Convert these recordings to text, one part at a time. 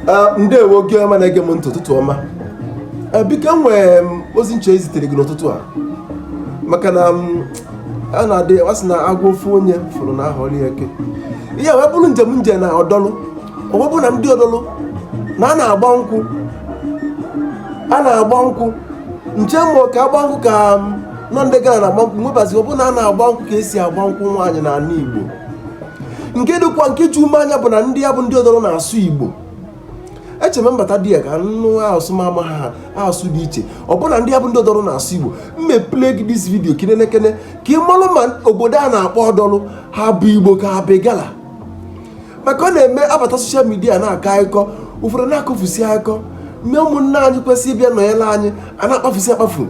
Ah, ndewo gị ọma na-ege m ntị ụtụtụ ọma Ah, biko enwere m ozi m chọ izitere gị n'ụtụtụ a maka na a na-adị a sị na agwọ ofu onye fụrụ na-aghọrọ ya eke ihe a wee bụrụ njem m je na Odolu ọ wee bụrụ na ndị Odolu na a na-agba nkwụ a na-agba nkwụ m che ma ka agba nkwụ ka ndị Igala na-agba nkwụ m wee bazie ọ bụrụ na a na-agba nkwụ ka esi agba nkwụ nwaanyị n'ala Igbo nke dịkwa nke ju m anya bụ na ndị a bụ ndị Odolu na-asụ igbo eche m m bata dị ya ka nụ asụ ma ama ha asụ dị iche ọ bụ na ndị a bụ ndị Odolu na-asụ igbo m wee play gị this video ka i nenekene ka ị malụ ma obodo a na-akpọ Odolu ha bụ igbo ka ha bụ Igala maka ọ na-eme a bata social media na-akọ akụkọ ụfọdụ na-akọfusi akụkọ mee ụmụnne anyị kwesịrị ịbịa nọnyere anyị a na-akpafusi akpafu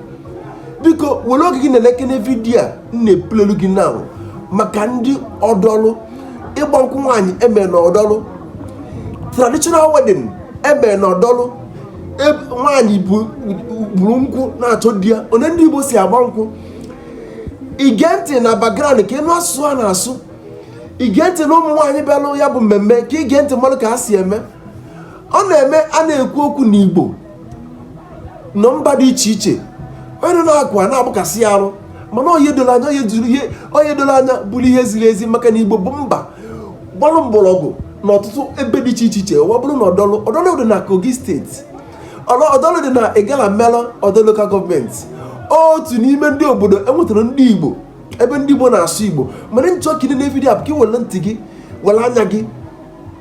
biko were oge gị nenekene vidiyo a m na-eplayelụ gị na maka ndị Odolu ịgba nkwụ nwaanyị e me na Odolu traditional wedding e me na Odolu e, nwaanyị buru nkwụ na-achọ di ya onye ndị Igbo si agba nkwụ i gee ntị na background ka ị nụ asụsụ a na-asụ i gee ntị na ụmụ nwaanyị bịalụ ya bụ mmemme ka i gee ntị malụ ka ha si eme ọ na-eme a na-ekwu okwu na Igbo nọ mba dị iche iche onye na-akụ a na-agbakasị ya arụ mana onye doro anya onye jụrụ ihe onye doro anya bụrụ ihe ziri ezi maka na igbo bụ mba gbalụ mgbọrọgwụ na ọtụtụ ebe dị iche iche ọ bụrụ na Odolu Odolu dị na kogi steeti ọdọlụ dị na Igalamela Odolu local government otu n'ime ndị obodo e nwetara ndị igbo ebe ndị igbo na-asụ igbo mana m chọ ka i nene vidiyo a bụ ka ị were ntị gị were anya gị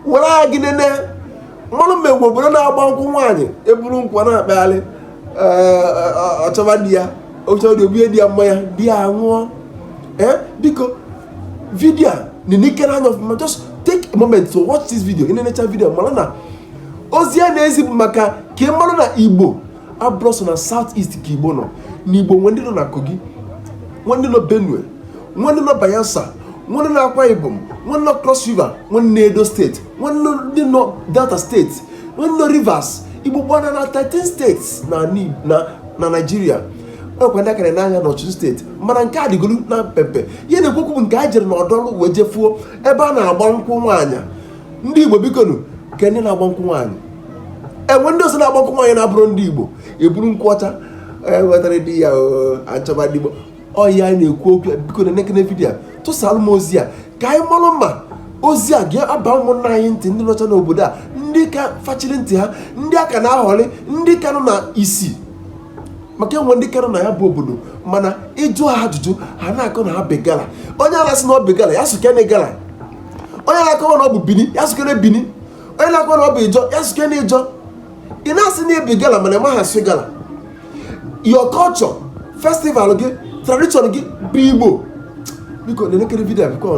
were anya gị nene malụ ma e nwe obodo na-agba nkwụ nwaanyị e buru nkwụ na-akpagharị ọ chọba di ya ọ chọba di o bunye di ya mmanya di ya ṅụọ biko vidio a nenekene ya anya ọfụma just take a moment to watch this video i nenecha vidio mara na ozi a na-ezi bụ maka ka ị mara na igbo abụrọ sọ na south east ka igbo nọ na igbo nwe ndị nọ na kogi nwe ndị nọ benue nwe ndị nọ bayelsa nwe ndị nọ akwa ibom nwe ndị nọ cross river nwe ndị nọ edo steeti nwe ndị nọ delta steeti nwe ndị nọ rivers igbo gbana na 13 states na na na naijiria ọkwa ndị akara n'anya n'ọchịchị steeti mana nke a dịgoro na mpempe ihe m na-ekwu okwu bụ nke a jere na Odolu wee jefuo ebe a na-agba nkwụ nwaanyị ndị igbo bikonu kee ndị na-agba nkwụ nwaanyị e nwe ndị ọzọ na-agba nkwụ nwaanyị na-abụrọ ndị igbo e buru nkwụ ọcha e, wetara di ya achọba ndị igbo ọ ya anyị na-ekwu okwu ya biko nenekene vidiyo a tụsara m ozi a ka anyị malụ ma ozi a ga-aba ụmụnna anyị ntị ndị nọcha n'obodo a ndị ka fachiri ntị ha ndị a ka na-aghọri ndị ka nọ na isi maka enwe ndị kara na ya bụ obodo mana ịjụ ha ajụjụ ha na-akọ na ha bụ igala onye na-asị na ọ bụ igala ya sụkene igala onye na-akọwa na ọ bụ bini ya sụkene bini onye na-akọwa na ọ bụ ijọ ya sụkene ijọ ị na-asị na ị bụ igala mana ịmaghị asụ igala your culture festival gị tradition gị bụ igbo biko na-elekiri vidio a biko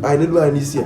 anyị n'elu anyị n'isi ya